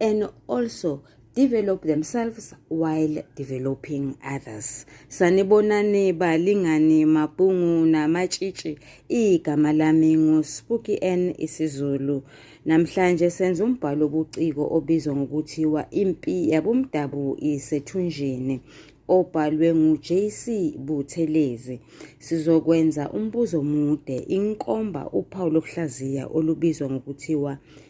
and also develop themselves while developing others sanibonani balingani mabhungu namatshitshi igama lami nguSpooky N isiZulu namhlanje senza umbhalo obuciko obizwa ngokuthiwa impi yabomdabu isethunjini obhalwe nguJC Buthelezi sizokwenza umbuzo omude inkomba uphawu lokuhlaziya olubizwa ngokuthiwa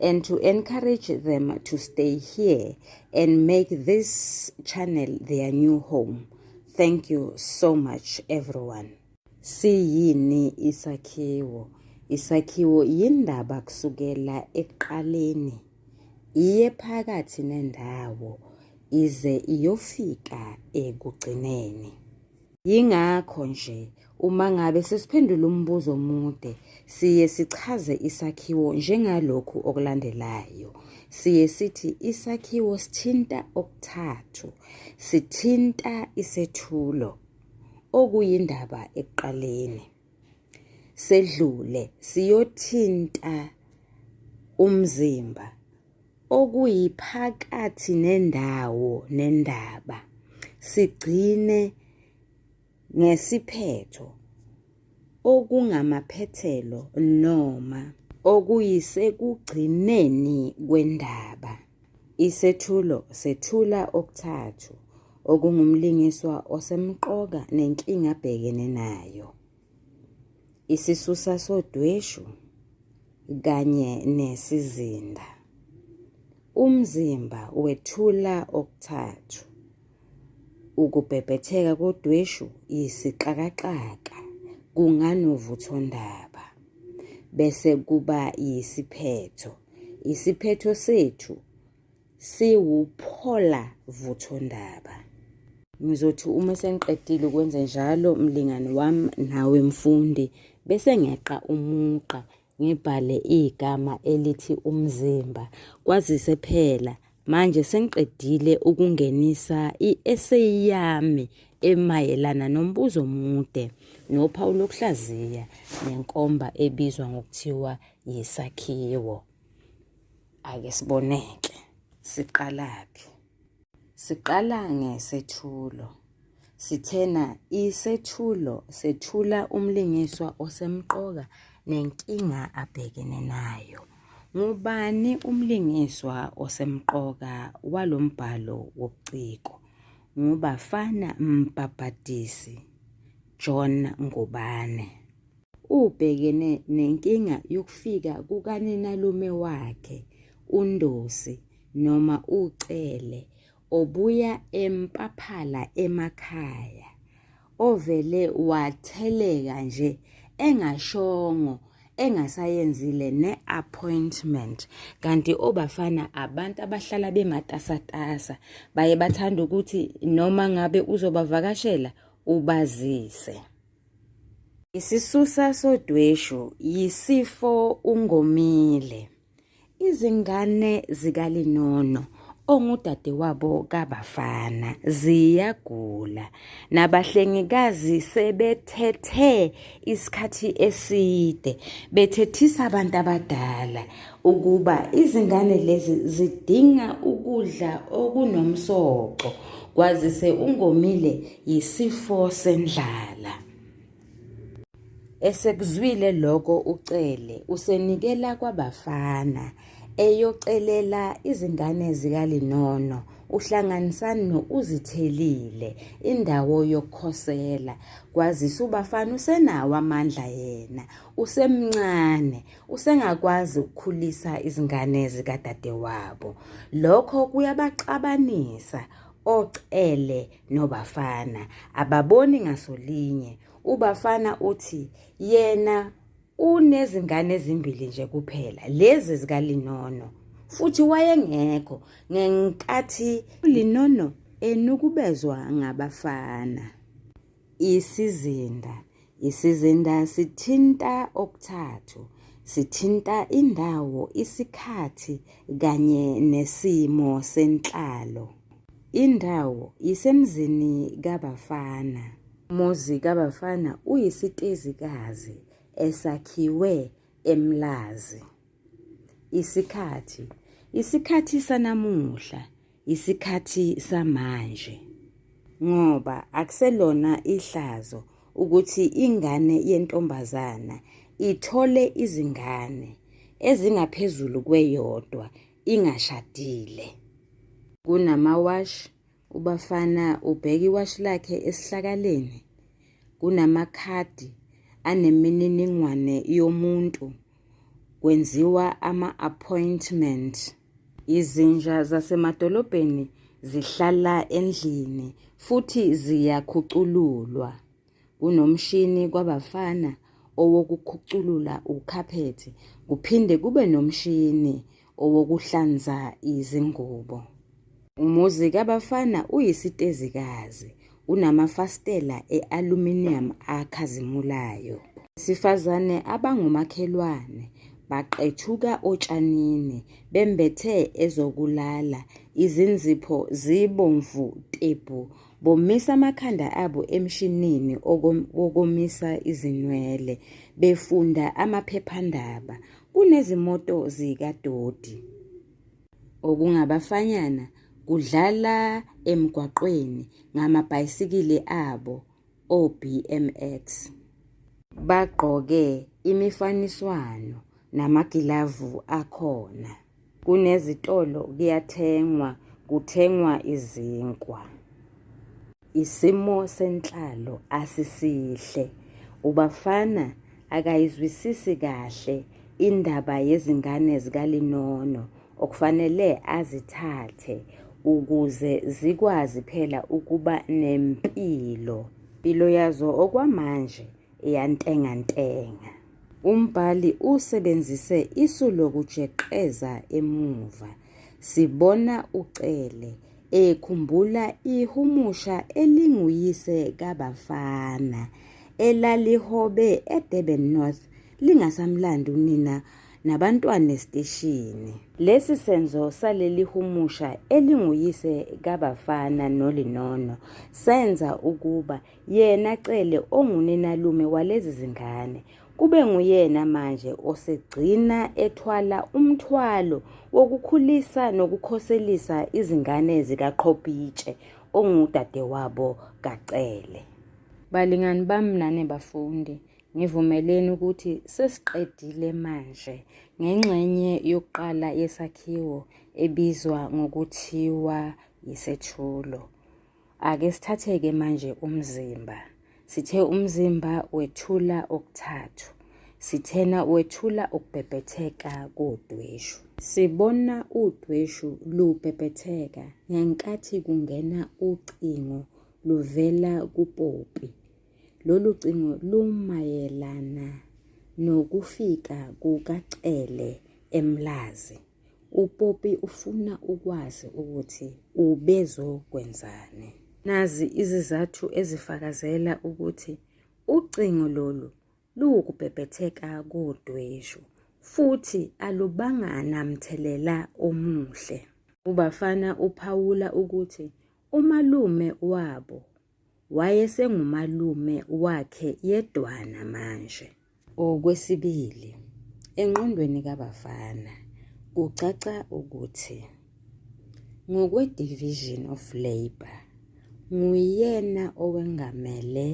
and to encourage them to stay here and make this channel their new home. Thank you so much everyone. Siyini isakhiwo? Isakhiwo yindaba kusukela ekuqaleni iye phakathi nendawo ize iyofika ekugcineni. Yingakho nje uma ngabe sesiphendula umbuzo omude siye sichaze isakhiwo njengalokhu okulandelayo. Siye sithi isakhiwo sithinta okuthathu. Sithinta isethulo okuyindaba ekuqaleni. sedlule siyothinta umzimba okuyiphakathi nendawo nendaba sigcine ngesiphetho okungamaphethelo noma okuyisekugcineni kwendaba Isethulo sethula okuthathu okungumlingiswa osemqoka nenkinga abhekene nayo. Isisusa sodweshu kanye nesizinda. Umzimba wethula okuthathu Ukubhebhetheka kodweshu yisixakaxaka kunganovuthondaba, bese kuba yisiphetho. Isiphetho sethu siwuphola vuthondaba. Ngizothi uma sengiqedile ukwenza njalo mlingani wami nawe mfundi bese ngeqa umugqa ngibhale igama elithi umzimba kwazise phela manje sengiqedile ukungenisa i-eseyi yami emayelana nombuzo omude nophawu lokuhlaziya nenkomba ebizwa ngokuthiwa yisakhiwo ake siboneke siqalaphi Siqala ngesethulo. Sithena isethulo sethula umlingiswa osemqoka nenkinga abhekene nayo. Ngubani umlingiswa osemqoka walombhalo wobuciko? Ngubafana Mbhabhadisi, John Ngubane. Ubhekene nenkinga yokufika kukaninalume wakhe uNdosi noma uCele obuya eMpaphala emakhaya ovele watheleka nje engashongo engasayenzile ne-appointment kanti obafana abantu abahlala bematasatasa baye bathanda ukuthi noma ngabe uzobavakashela ubazise Isisusa sodweshu yisifo uNgomile. Izingane zikaLinono ongudadewabo kaBafana ziyagula nabahlengikazi sebethethe isikhathi eside bethethisa abantu abadala ukuba izingane lezi zidinga ukudla okunomsoco kwazise ungomile yisifo sendlala. Esekuzwile lokho uCele usenikela kwabafana eyocelela izingane zikaLinono uhlanganisani no-Uzithelile indawo yokukhosela kwazise ubafana usenawo amandla yena usemncane usengakwazi ukukhulisa izingane zikadadewabo lokho kuyabaxabanisa ocele nobafana ababoni ngasolinye ubafana uthi yena unezingane ezimbili nje kuphela lezi zikalinono futhi wayengekho ngenkathi linono enukubezwa ngabafana Isizinda. Isizinda sithinta okuthathu. Sithinta indawo, isikhathi kanye nesimo senhlalo. Indawo isemzini kaBafana. Umuzi kaBafana uyisitezikazi esakhiwe eMlazi. isikhathi isikhathi sanamuhla isikhathi samanje ngoba akuselona ihlazo ukuthi ingane yentombazana ithole izingane ezingaphezulu kweyodwa ingashadile kunamawashi Ubafana ubheka iwashi lakhe esihlakaleni kunamakhadi anemininingwane yomuntu kwenziwa ama-appointment. Izinja zasemadolobheni zihlala endlini futhi ziyakhucululwa. Kunomshini kwabafana owokukhuculula ukhaphethi kuphinde kube nomshini owokuhlanza izingubo. Umuzi kabafana uyisitezikazi, unamafasitela e-aluminium akhazimulayo. Abesifazane abangomakhelwane baqethuka otshanini bembethe ezokulala, izinzipho zibomvu tebhu Bomisa amakhanda abo emshinini wokomisa izinwele befunda amaphephandaba. Kunezimoto zikadoti okungabafanyana kudlala emgwaqweni ngamabhayisikili abo o-BMX. Bagqoke imifaniswano namagilavu akhona. Kunezitolo kuyathengwa, kuthengwa izinkwa. Isimo senhlalo asisihle. Ubafana akayizwisisi kahle indaba yezingane zikaLinono okufanele azithathe ukuze zikwazi phela ukuba nempilo. Impilo yazo okwamanje iyantengantenga. Umbhali usebenzise isu lokujeqeza emuva. Sibona uCele ekhumbula ihumusha elinguyise kaBafana elalihobe eDurban North lingasamlandi unina nabantwana esiteshini. Lesi senzo saleli humusha elinguyise kaBafana noLinono senza ukuba yena Cele onguninalume walezi zingane kube nguyena manje osegcina ethwala umthwalo wokukhulisa nokukhoselisa izingane zikaqhobhitshe ongudadewabo kaCele. Balingani bami nane bafundi, ngivumeleni ukuthi sesiqedile manje ngengxenye yokuqala yesakhiwo ebizwa ngokuthiwa yisethulo. Ake sithatheke manje umzimba. Sithe umzimba wethula okuthathu. Sithena wethula ukubhebhetheka kodweshu. Sibona udweshu lubhebhetheka ngenkathi kungena ucingo luvela kuPopi. Lolu cingo lumayelana nokufika kukaCele eMlazi. uPopi ufuna ukwazi ukuthi ubezokwenzani. Nazi izizathu ezifakazela ukuthi ucingo lolu luwukubhebhetheka kodweshu futhi alubanga namthelela omuhle. UBafana uphawula ukuthi umalume wabo wayesengumalume wakhe yedwana manje. Okwesibili, engqondweni kabafana kucaca ukuthi ngokwe-Division of Labour nguyena owengamele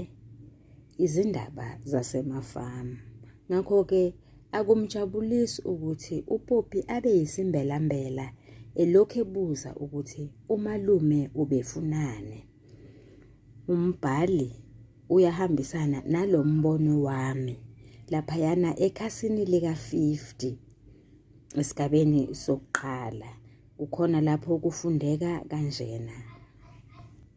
izindaba zasemafamu. Ngakho-ke akumjabulisi ukuthi uPoppy abe yisimbelambela elokhu ebuza ukuthi umalume ubefunani. Umbhali uyahambisana nalo mbono wami laphayana ekhasini lika-50 esigabeni sokuqala kukhona lapho kufundeka kanjena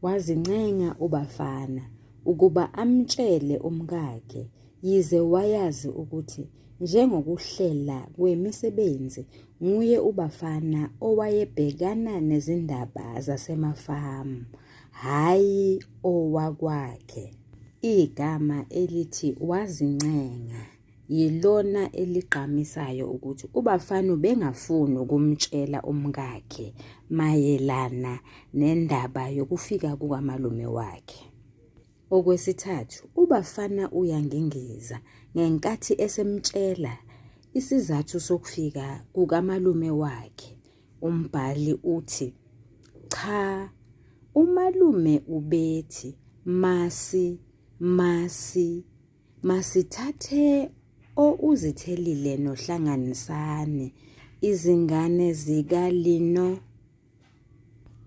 wazincenga ubafana ukuba amtshele umkakhe Yize wayazi ukuthi njengokuhlela kwemisebenzi nguye uBafana owayebhekana nezindaba zasemafamu, hhayi owakwakhe. Igama elithi wazincenga yilona eligqamisayo ukuthi uBafana ubengafuni ukumtshela umkakhe mayelana nendaba yokufika kukamalume wakhe. Okwesithathu, uBafana uyangengeza ngenkathi esemtshela isizathu sokufika kukamalume wakhe. Umbhali uthi, Cha, umalume ubethi masi masi masithathe ouzithelile nohlanganisani izingane zikalino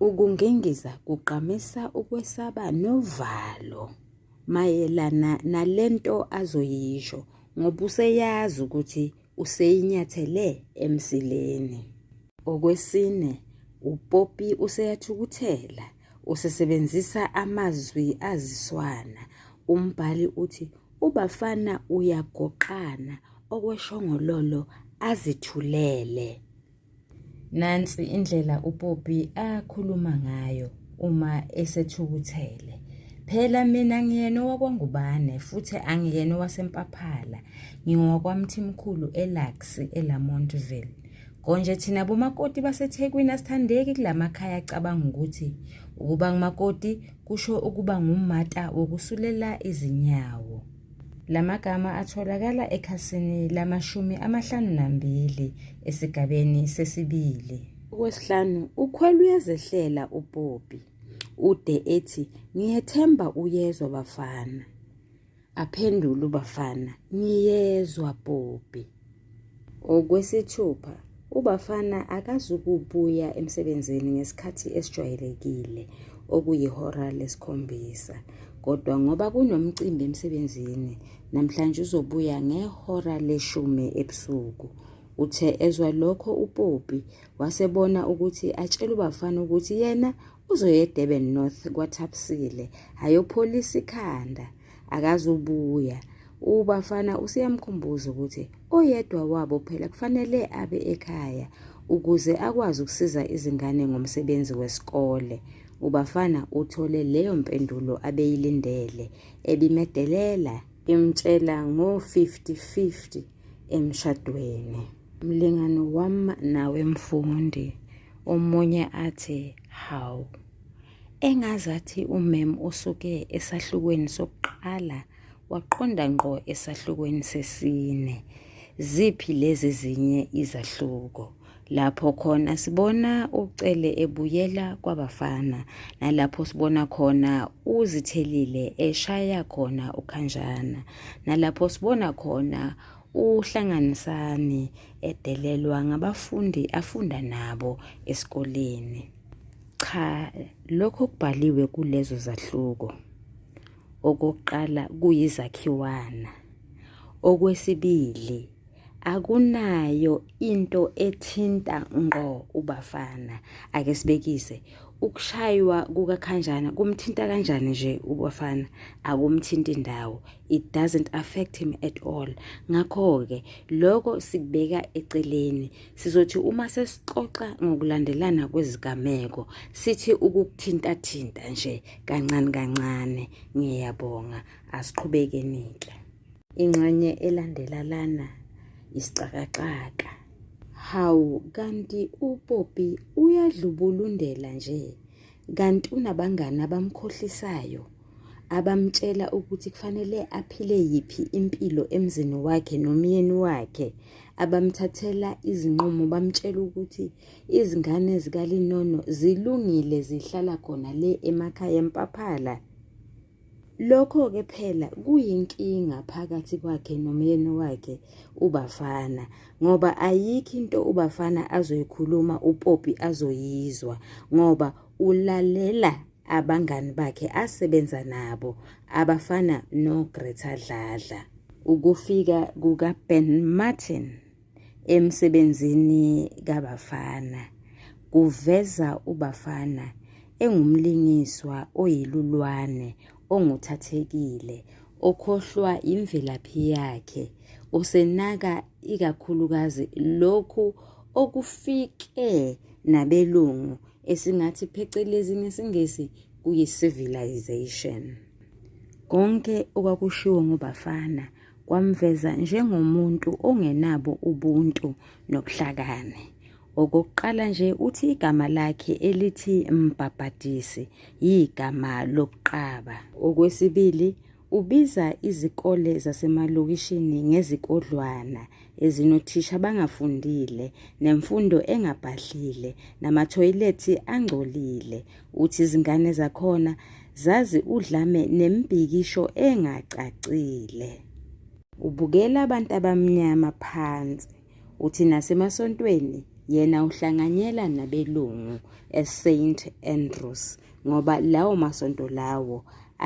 Ukungingiza kugqamisa ukwesaba novalo mayelana nalento azoyisho ngoba useyazi ukuthi useyinyathele emsileni. Okwesine, uPoppy useyathukuthela, usesebenzisa amazwi aziswana. Umbhali uthi ubafana uyagoqana okweshongololo azithulele. Nansi indlela uPopi akhuluma ngayo uma esethukuthele. Phela mina ngiyena owakwaNgubane futhi angiyena owaseMpaphala. NgingowakwaMthimkhulu eLux, eLamontville. Konje thina bomakoti baseThekwini asithandeki kulamakhaya acabanga ukuthi ukuba ngumakoti kusho ukuba ngummata wokusulela izinyawo. Lamagama atholakala ekhasini lamashumi amahlanu nambili esigabeni sesibili. Okwesihlanu, ukhwela uyazehlela uPopi. Ude ethi, ngiyethemba uyezwa bafana. Aphendula ubafana, ngiyezwa Popi. Okwesithupha, uBafana akazukubuya emsebenzini ngesikhathi esijwayelekile okuyihora lesikhombisa kodwa ngoba kunomcimbi emsebenzini namhlanje uzobuya ngehora leshumi ebusuku. Uthe ezwa lokho uPoppy wasebona ukuthi atshele uBafana ukuthi yena uzoya eDurban North kwaThapsile ayopholisa ikhanda. akazubuya ubafana useyamkhumbuza ukuthi oyedwa wabo phela kufanele abe ekhaya ukuze akwazi ukusiza izingane ngomsebenzi wesikole ubafana uthole leyo mpendulo abeyilindele ebimedelela imtshela ngo-50-50 emshadweni mlingano wam nawe mfundi omunye athi hawu Engazathi umem osuke esahlukweni sokuqala waqonda ngqo esahlukweni sesine. Ziphi lezi zinye izahluko? Lapho khona sibona uCele ebuyela kwabafana nalapho sibona khona uZithelile eshaya khona uKhanjana nalapho sibona khona uhlanganisani edelelwa ngabafundi afunda nabo esikoleni. Cha, lokho okubhaliwe kulezo zahluko okokuqala kuyizakhiwana, okwesibili akunayo into ethinta ngqo uBafana. Ake sibekise ukushaywa kukaKhanjana kumthinta kanjani nje uBafana? Akumthinti ndawo. it doesn't affect him at all ngakho-ke lokho sikubeka eceleni sizothi uma sesixoxa ngokulandelana kwezigameko sithi ukukuthintathinta nje kancane kancane ngiyabonga asiqhubekenike ingxenye elandela lana isixakaxaka hawu kanti upopi uyadlubulundela nje kanti unabangani abamkhohlisayo abamtshela ukuthi kufanele aphile yiphi impilo emzini wakhe nomyeni wakhe abamthathela izinqumo bamtshela ukuthi izingane zikalinono zilungile zihlala khona le emakhaya empaphela Lokho-ke phela kuyinkinga phakathi kwakhe nomyeni wakhe uBafana ngoba ayikho into uBafana azoyikhuluma uPoppy azoyizwa ngoba ulalela abangani bakhe asebenza nabo abafana noGreta Dladla. Ukufika kukaBen Martin emsebenzini kaBafana kuveza uBafana engumlingiswa oyilulwane onguthathekile okhohlwa imvelaphi yakhe usenaka ikakhulukazi lokhu okufike nabelungu esingathi phecelezi ngesiNgisi kuyi-civilization. Konke okwakushiwo ngobafana kwamveza njengomuntu ongenabo ubuntu nobuhlakani. Okokuqala nje uthi igama lakhe elithi Mbhabhadisi yigama lobuqaba. Okwesibili Ubiza izikole zasemalokishini ngezikodlwana ezinothisha abangafundile nemfundo engabhadlile namathoyilethi angcolile. Uthi izingane zakhona zazi udlame nemibhikisho engacacile. Ubukela abantu abamnyama phansi. Uthi nasemasontweni yena uhlanganyela nabelungu eSaint Andrews ngoba lawo masonto lawo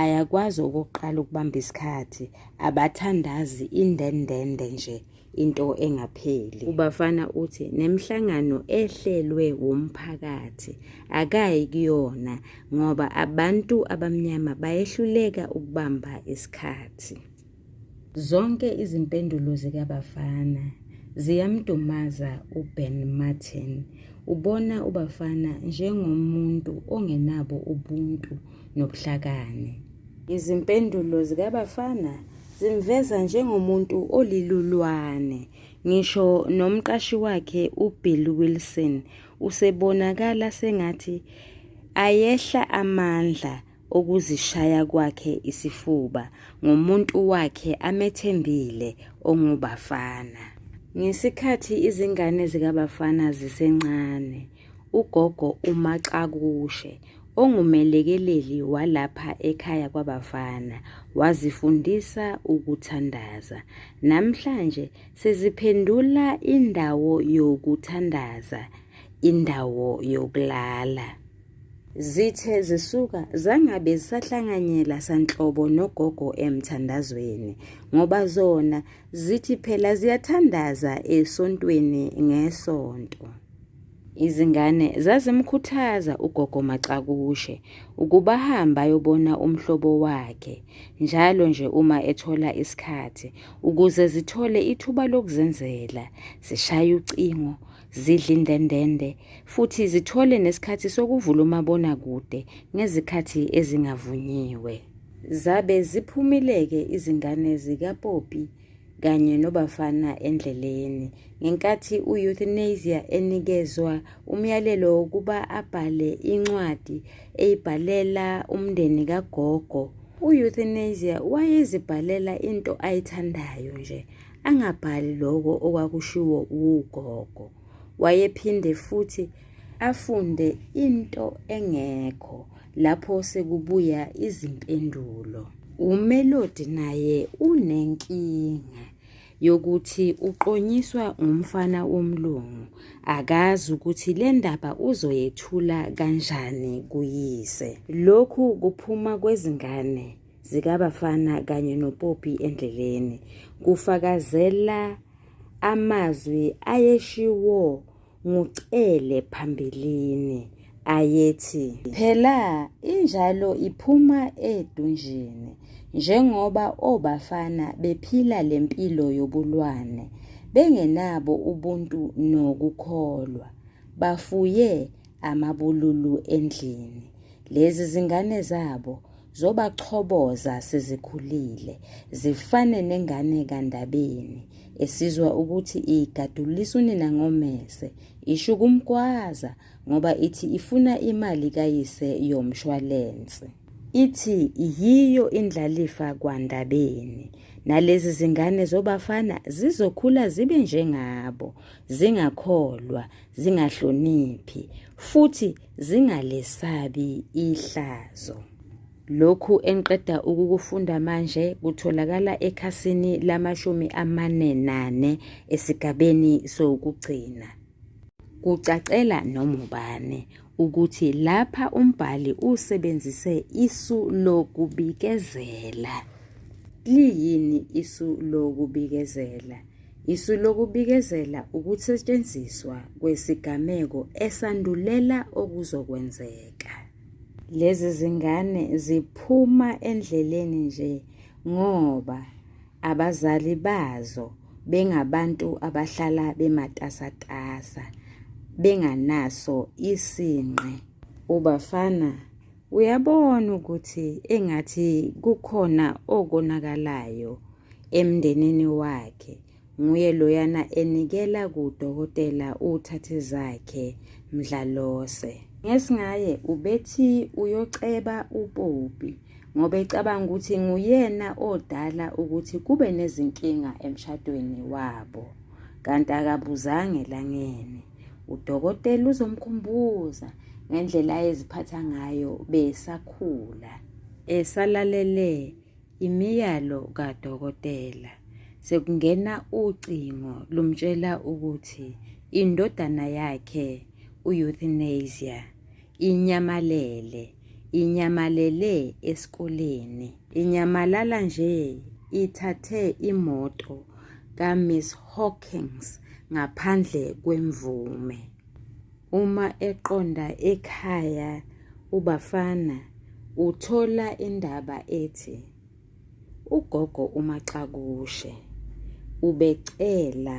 ayakwazi okokuqala ukubamba isikhathi abathandazi indendende nje into engapheli ubafana uthi nemhlangano ehlelwe wumphakathi akayi kuyona ngoba abantu abamnyama bayehluleka ukubamba isikhathi Zonke izimpendulo zikaBafana ziyamdumaza uBen Martin. Ubona uBafana njengomuntu ongenabo ubuntu nobuhlakani. Izimpendulo zikaBafana zimveza njengomuntu olilulwane. Ngisho nomqashi wakhe uBill Wilson usebonakala sengathi ayehla amandla okuzishaya kwakhe isifuba ngomuntu wakhe amethembile onguBafana. Ngesikhathi izingane zikaBafana zisencane, ugogo uMaXakushe ongumelekeleli walapha ekhaya kwaBafana wazifundisa ukuthandaza. Namhlanje seziphendula indawo yokuthandaza indawo yokulala. Zithe zisuka zangabe zisahlanganyela sanhlobo nogogo emthandazweni ngoba zona zithi phela ziyathandaza esontweni ngesonto. Izingane zazimkhuthaza ugogo Macakushe ukuba ahambe ayobona umhlobo wakhe njalo nje uma ethola isikhathi ukuze zithole ithuba lokuzenzela, zishaye ucingo zidle indendende futhi zithole nesikhathi sokuvula umabonakude ngezikhathi ezingavunyiwe. Zabe ziphumile-ke izingane zikaPoppy kanye noBafana endleleni ngenkathi u-Euthanasia enikezwa umyalelo wokuba abhale incwadi eyibhalela umndeni kagogo. U-Euthanasia wayezibhalela into ayithandayo nje, angabhali lokho okwakushiwo wugogo wayephinde futhi afunde into engekho lapho sekubuya izimpendulo umelodi naye unenkinga yokuthi uqonyiswa umfana womlungu akazi ukuthi le ndaba uzoyethula kanjani kuyise lokhu kuphuma kwezingane zikabafana kanye nopopi endleleni kufakazela amazwi ayeshiwo ngucele phambilini ayethi phela injalo iphuma edunjini njengoba obafana bephila lempilo yobulwane bengenabo ubuntu nokukholwa bafuye amabululu endlini lezi zingane zabo zobachoboza sezikhulile zifane nengane kaNdabeni esizwa ukuthi igadulisa unina ngomese isho kumgwaza ngoba ithi ifuna imali kayise yomshwalense ithi yiyo indlalifa kwaNdabeni nalezi zingane zobafana zizokhula zibe njengabo zingakholwa zingahloniphi futhi zingalesabi ihlazo. Lokhu engiqeda ukukufunda manje kutholakala ekhasini lamashumi amane nane esigabeni sokugcina. Kucacela noma ubani ukuthi lapha umbhali usebenzise isu lokubikezela. Liyini isu lokubikezela? Isu lokubikezela ukusetshenziswa kwesigameko esandulela okuzokwenzeka. Lezi zingane ziphuma endleleni nje ngoba abazali bazo bengabantu abahlala bematasatasa benganaso isinqe. Ubafana uyabona ukuthi engathi kukhona okonakalayo emndenini wakhe nguye loyana enikela kudokotela uthathe zakhe mdlalose ngesingaye ubethi uyoceba upopi ngoba ecabanga ukuthi nguyena odala ukuthi kube nezinkinga emshadweni wabo kanti akabuzanga elangeni udokotela uzomkhumbuza ngendlela ayeziphatha ngayo besakhula esalalele Imiyalo kadokotela. Sekungena ucingo lumtshela ukuthi indodana yakhe u-euthanasia inyamalele inyamalele esikoleni inyamalala nje ithathe imoto ka-miss hawkins ngaphandle kwemvume Uma eqonda ekhaya uBafana uthola indaba ethi ugogo uMaxakushe ubecela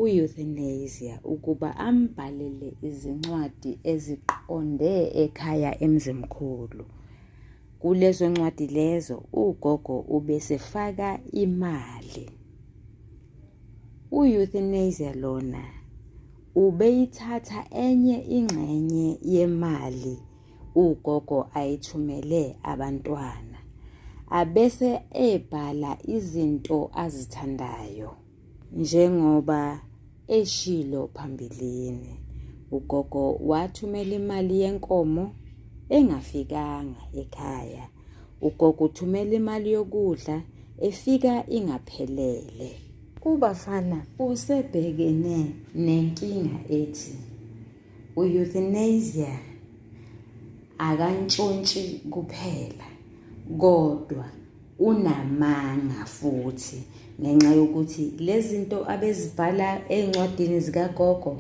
u-euthanasia ukuba ambhalele izincwadi eziqonde ekhaya emzimkhulu. Kulezo ncwadi lezo ugogo ubesefaka imali. U-euthanasia lona ubeyithatha enye ingxenye yemali ugogo ayithumele abantwana abese ebhala izinto azithandayo njengoba eshilo phambilini ugogo wathumela imali yenkomo engafikanga ekhaya Ugogo uthumela imali yokudla efika ingaphelele. UBafana usebhekene nenkinga ethi u-euthanasia akantshontshi kuphela kodwa unamanga futhi ngenxa yokuthi lezinto abezibhala ezincwadini zikagogo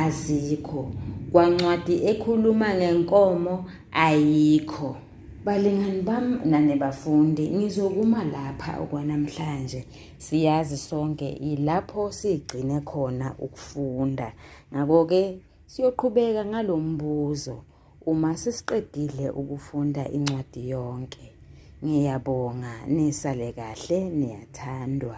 azikho kwancwadi ekhuluma ngenkomo ayikho balingani bam nane bafundi ngizokuma lapha okwanamhlanje siyazi sonke ilapho sigcine khona ukufunda ngako-ke siyoqhubeka ngalo mbuzo Uma sesiqedile ukufunda incwadi yonke. Ngiyabonga nisale kahle niyathandwa.